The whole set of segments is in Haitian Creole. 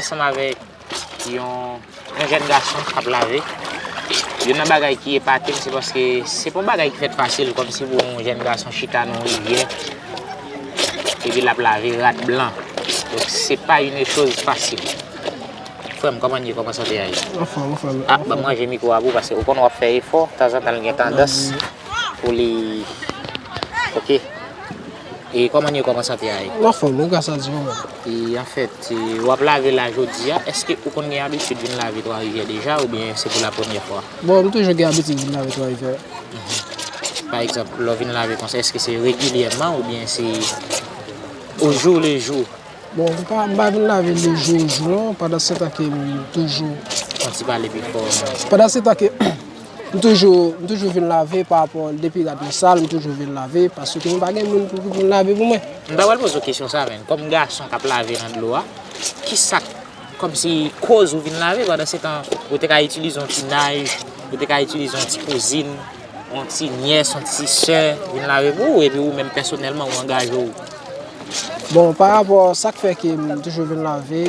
Ansanm avèk yon jèn gason k ap lave. Youn nan bagay ki epate m se paske se pa yon bagay ki fèt fasil kòmsi pou yon jèn gason chita nan yon rivyè epi l ap lave rad blan. Donk se pa une chose facile. Frè m, kòman n ye? Kòman sante a ye? Anfòm, anfòm. A, ban m ranje mikwo a pou paske ou konn w ap fè efò, tanzantan l gen tandans pou li. Ok. E koman ye koman sante a ye. Mwen anfom wi gras a Dye mwen. E anfèt wap lave la jodi a eske ou konn gen abitid vin lave 3 rivyè deja oubyen se pou la premyè fwa. Bon m toujou gen abitid vin lave 3 rivyè. Pa egzanp lè w vin lave konsa eske se regilyèman oubyen se o jou le jou. Bon m pa vin lave le jou o jou non pandan setan ke m toujou. Fon ti pale pi fò. Pandan setan ke. M toujou m toujou vin lave pa rapò depi rad mwen sal m toujou vin lave paske m pa gen moun pou vin lave pou mwen. M ta pral poze w kesyon sa menn kòm gason kap lave nan dlo a kisak kòmsi koz ou vin lave pandan se tan ou te ka itilize yon ti naj ou te ka itilize yon ti kouzin yon ti nyès yon ti sè vin lave pou ou epi ou menm pèsonèlman ou angaje w. Bon pa rapò sak fè ke m toujou vin lave.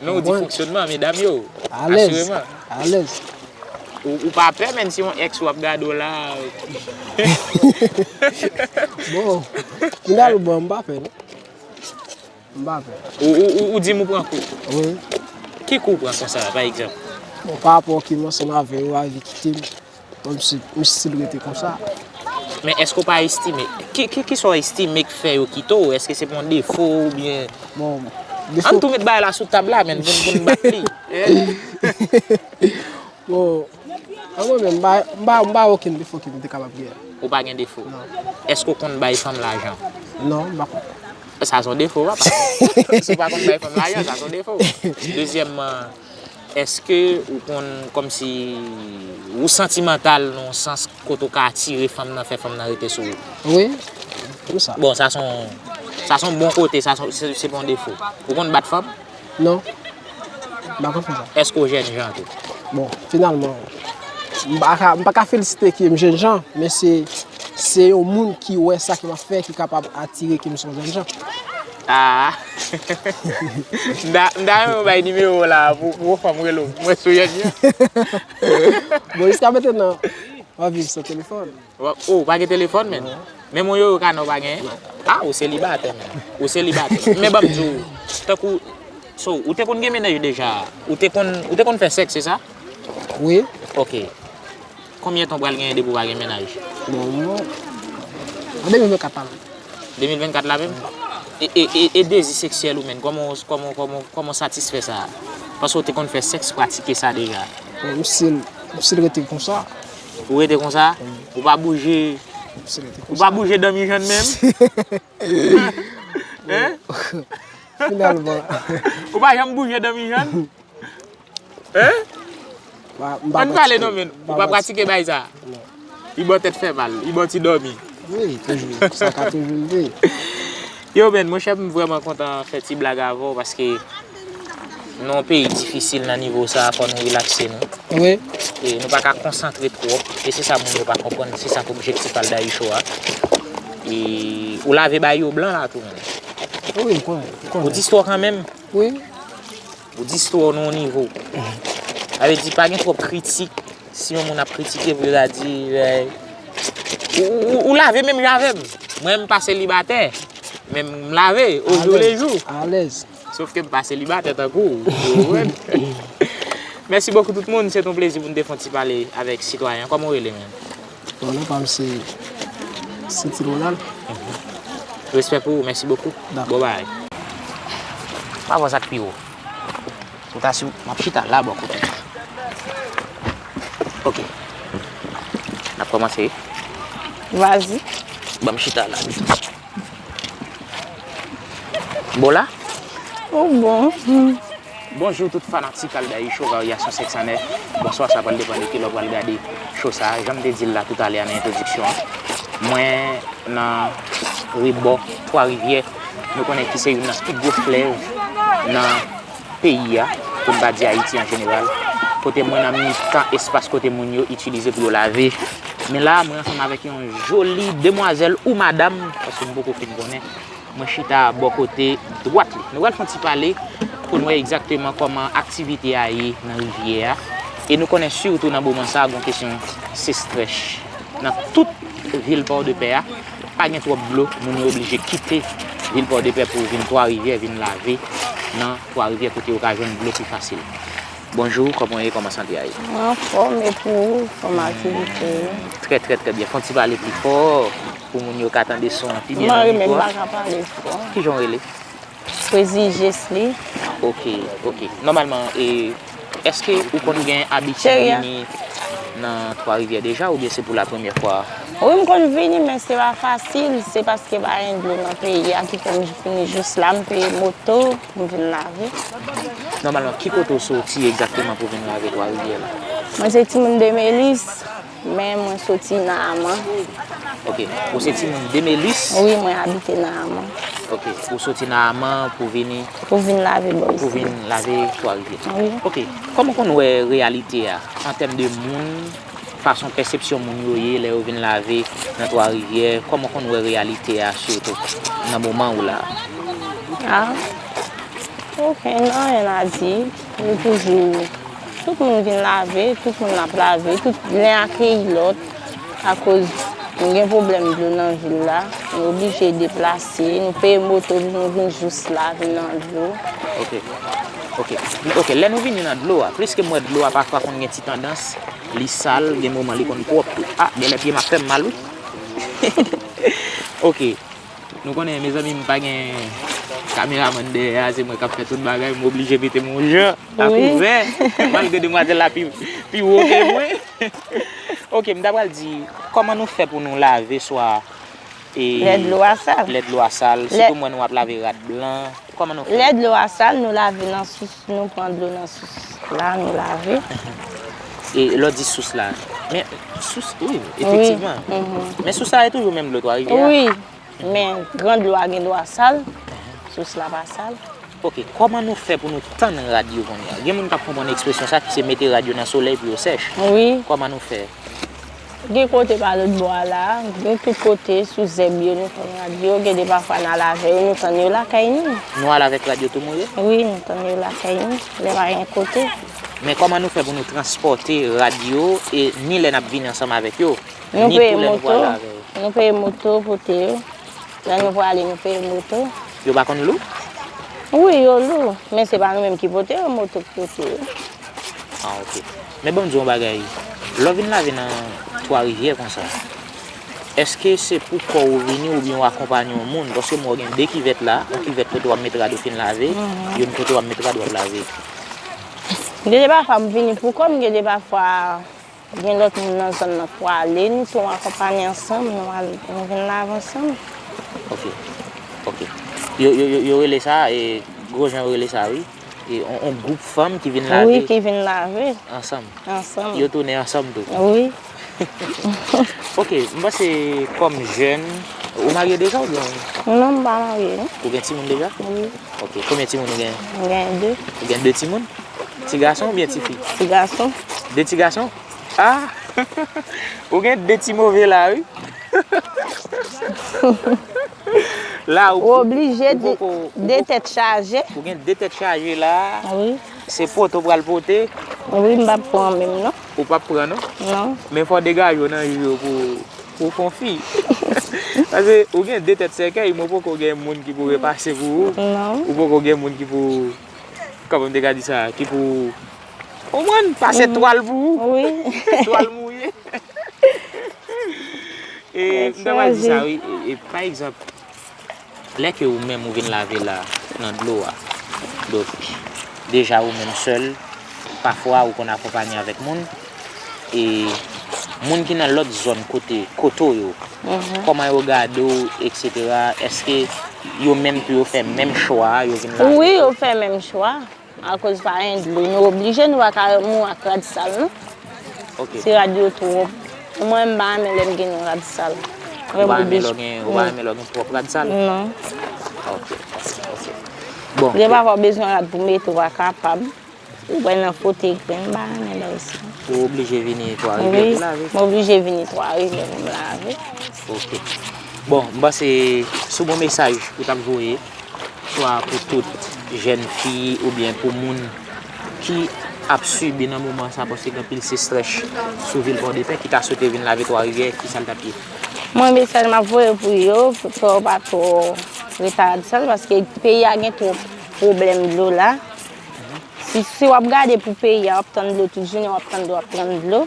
Men ou di fonksyonman medam yo. Alèz, alèz. Ou pa pè menn si yon ex ou ap gade w la. Bon, final bon, m pa pè non. M pa pè. Ou di m ou pran kou? Wi. Ki kou ou pran konsa pa egzanp? Bon, pa rapò ki mò se m avè yo a, li kite m. M stil rete konsa. Men èske ou pa estime, ki sa ou estime k fè yo kite ou? Èske se pou yon defo oubyen? Bon, defo. Ann tou met bagay la sou tab la menn pou nou bat li. Bon, an mwen menm, m pa wè okenn defo ki m te kapab gen. Ou pa gen defo? Non. Èske ou konn bay fanm lajan? Non, m pa konn. Sa son defo a pa. Si ou pa konn bay fanm lajan, sa son defo. Dezyèmman, Eske ou konn komsi ou santimantal nan yon sans kote ou ka atire fanm nan, fè fanm nan rete sou ou? Wi, pou sa. Bon, sa son, sa son bon kote, sa son, se pa yon defo. Ou konn bat fanm? Non, m pa konn fè sa. Eske ou jènjan tou? Bon, finalman, m pa ka, m pa ka felisite ke m jènjan, men se, se yon moun ki wè sa ke m ap fè ki kapab atire ke m son jènjan. Aah m ta renmen w bay nimewo w la pou w fè m rele w mwen sou yonn yo. Bon jiska meten nan wap viv san telefòn? Ou pa gen telefòn menm? Menm yon yoyo kanè ou pa genyen? Ah ou selibatè menm. Ou selibatè. Men banm di w, tankou So ou te konn gen menaj deja? Ou te konn fè sèks se sa? Wi. Ok. Konbyen tan w pral genyen depi w pa gen mennaj? Bon an 2024 la menm. 2024 la menm? E dezi seksyèl ou menn, kòman w satisfè sa? Paske w te konn fè sèks, pratike sa deja? Bon, m si l rete konsa. Ou rete konsa? Ou pa bouje? M si l rete konsa. Ou pa bouje danmijann menm? Hein? Finalman. Ou pa janm bouje danmijann? Hein? An pale non men, ou pa pratike bagay sa? Non. Li baw tèt fè mal, li baw ti dòmi. Wi, toujou, sa ka toujou rive. Yo men, mwen chèf m vreman kontan fè ti blag avèw paske nou yon peyi difisil nan nivo sa fò nou relakse nou. Wi. E nou pa ka konsantre twòp, e se sa moun yo pa konprann, se sa k objektif al Dayou Show a. E ou lave bay yo blan la tou menm. Wi, m konnen. Ou di stwò kanmenm? Wi. Ou di istwa w nan yon nivo. Sa vle di pa gen twòp kritik. Si yon moun ap kritike pou yo ta di vèy. Ou lave menm jan avè m. Mwen m pa selibatè. Men m lave o jou le jou. Alèz. Sof ke m pa selibatè tankou w. Ou konprann? Mèsi bokou tout moun. Se t yon plezi pou n te fon ti pale avèk sitwayen an. Kòman w rele menm? Bon non pam se City Ronald. Respè pou ou mèsi bokou. Bon bagay. Pa vwa sa k pi wo. Ou ta si map chita la bò kote. Ok. Nap kòmanse wi. Vas y. Banm chita la. Bon la? Ou bon. Bonjou tout fanatik Aldaï Show Varyasyon 509. Bonswa sa pral depan de kilè w pral gade show sa. Janm te di l la toutalè a nan entwodiksyon an. Mwen nan rebò 3 rivyè. Nou konnen ki se youn nan pi gwo flèv nan. peyi a, pou n pa di Ayiti an jeneral, kote mwen nan mitan espas kote moun yo itilize pou yo lave. Men la a, mwen ansanm avèk yon joli demwazèl ou madam, paske m poko fin konnen, mwen chita bò kote dwat li. Nou pral fè yon ti pale pou n wè egzakteman kòman aktivite a ye nan rivyè a. E nou konnen sitou nan moman sa a gon kesyon sestrèch nan tout vil Pòdepè a. Pa gen twòp dlo, moun yo oblije kite vil Pòdepè pou vin Twa Rivyè vin lave nan Twa Rivyè kote yo ka jwenn dlo pi fasil. Bonjou, kòman w ye, kòman sante a ye? Mwen anfòm, e pou ou, kòman aktivite yo? Trè trè trè byen, fò w ti pale pi fò pou moun yo ka tande son an pi byen nan mikwo a. Mwen renmen m pa ka pale fò. Kijan w rele? Pwezi jes li. Ok ok nòmalman e eske ou konn gen abitid vini nan twa rivyè deja oubyen se pou la premyè fwa a? Wi m konn vini men se pa fasil se paske pa gen dlo nan peyi a ki fè m vini jous la m peye moto pou m vin lave. Nòmalman ki kote ou soti egzakteman pou vin lave twa rivyè la? Mwen se timoun demelis. Men mwen soti nan Aman. Ok. Ou se timoun de Melis? Wi, mwen abite nan Aman. Ok. Ou soti nan Aman pou vini? Pou vin lave bò isi. Pou vin lave Twa Rivyè. Wi. Ok. Kòman w konn wè reyalite a an tèm de moun, fason pèsepsyon moun yo ye lè yo vin lave nan Twa Rivyè? Kòman w konn wè reyalite a sitou nan moman ou la? Ah. Ok. Nan anyen a di. Yo toujou. Tout moun vin lave, tout moun ap lave, tout len akeyi lòt, akoz nou gen pwoblèm dlo nan vil la, nou oblije deplase, nou peye moto pou nou vin jous la, vin nan dlo. Ok, ok, ok, lè nou vini nan dlo a, pliske m wè dlo a pafwa konn gen ti tandans, li sal, gen moman li konn pwòp tou, ah, genlè pye m ap fè m mal wi, ok. Nou konnen mezanmi m pa gen kameramann dèyè a, se mwen k ap fè tout bagay, m oblije mete m yon jan a kouvè, malgre demwazèl la pi wo ke mwen. Ok, m ta pral di, kòman nou fè pou nou lave swa e. Lè dlo a sal. Lè dlo a sal, sitou m wè nou ap lave rad blan, kòman nou fè? Lè dlo a sal, nou lave nan sous. Nou pran dlo nan sous la nou lave. E lè w di sous la, men sous wi efektivman. Men sous la e toujou menm dlo 3 rivyè a? Wi, men gran dlo a gen dwa sal, sous la pa sal. Ok, kòman nou fè pou nou tann rad yo kounya? Gen moun k ap konprann ekspresyon sa ki se mete rad yo nan solèy pou yo sèch. Wi. Kòman nou fè? Gen kote pa lòt bò a la a, gen tout kote, sou zèb yo nou tann radyo, gen de pafwa n al avè yo nou tann yo lakay nou. Nou al avèk radyo tou More? Wi, nou tann yo lakay nou, lè pa gen kote. Men kòman nou fè pou nou transpòte radyo e ni lè n ap vini ansanm avèk yo, ni tou lè nou pral avè yo? Nou peye moto pote yo, lè nou prale nou peye moto. Yo pa konn lou? Wi, yo lou, men se pa nou menm ki pote yo, moto ki pote yo. Ah ok. Men banm di w yon bagay, lè w vin lave nan twa rivyè konsa, èske se pou kò ou vini oubyen ou akonpanye yon moun? Paske m wè w gen 2 kivèt la, yon kivèt kote wap met rad ou fin lave, youn kote wap met rad wap lave. Gen de pafwa m vini pou kò m, gen de pafwa gen lòt moun nan zòn nan k pwale, nou tou akonpanye ansanm, nou al nou vin lave ansanm. Ok, ok. Yo rele sa, gwo jan yo rele sa wi. On group fanm ki vin lave. Wi ki vin lave. Ansanm. Ansanm. Yo tounen ansanm tou. Wi. Ok, m panse kom jèn, ou marye deja ou byen? Non m pa marye non. Ou gen timoun deja? Wi. Ok, konbyen timoun ou gen? M gen 2. Ou gen 2 timoun? Ti gason ou byen ti fi? Ti gason. 2 ti gason? Ahh! Ou gen 2 ti move la wi. Ou oblije di 2 tèt chaje. Ou gen 2 tèt chaje la. Wi. Se poto ou pral pote. Wi m pa p pran menm non. Ou pa p pran non? Non. Men fò w degaje w nan jou yo pou w fon fi. Pase ou gen 2 tèt sèkèy men w poko gen moun ki pou repase pou ou. Non. Ou poko gen moun ki pou, kòman m te ka di sa, ki pou. Ou konprann? Pase twal pou ou. Wi. Twal mouye. E m ta pral di sa wi. E pa egzanp, lè ke ou menm ou vin lave la nan dlo a, donk deja ou menm sèl, pafwa ou konn akonpanye avèk moun, e moun ki nan lòt zòn kote kote w yo, kòman yo gade w eksetera, èske yo menm tou yo fè menm chwa a, yo vin lave? Wi, yo fè menm chwa. Akoz pa gen dlo nou oblije nou paka mou ak rad sal non si rad yo twòp ou mwen mpa renmen lèm gen yon rad sal ou pa renmen lèw gen twòp rad sal non ok ok bon gen pafwa ou bezwen rad pou mete ou pa kapab ou wè nan frote grenn mpa renmen lèw sa ou oblije vini 3 rivyè pou lave mwen oblije vini 3 rivyè poum lave ok bon mpanse sou bon mesaj ou tap voye. swa pou tout jèn fi oubyen pou moun ki ap sibi nan moman sa paske gen anpil sestrèch sou vil Pòdepè ki ta swete vin lave Twa Rivyè ki sa l t ap ye? Mwen mesaj m ap voye pou yo fè yo pa twò retardsan paske peyi a gen twòp pwoblèm dlo la si w ap gade pou peyi a w ap tann dlo tout jounen w ap tann dlo w ap tann dlo.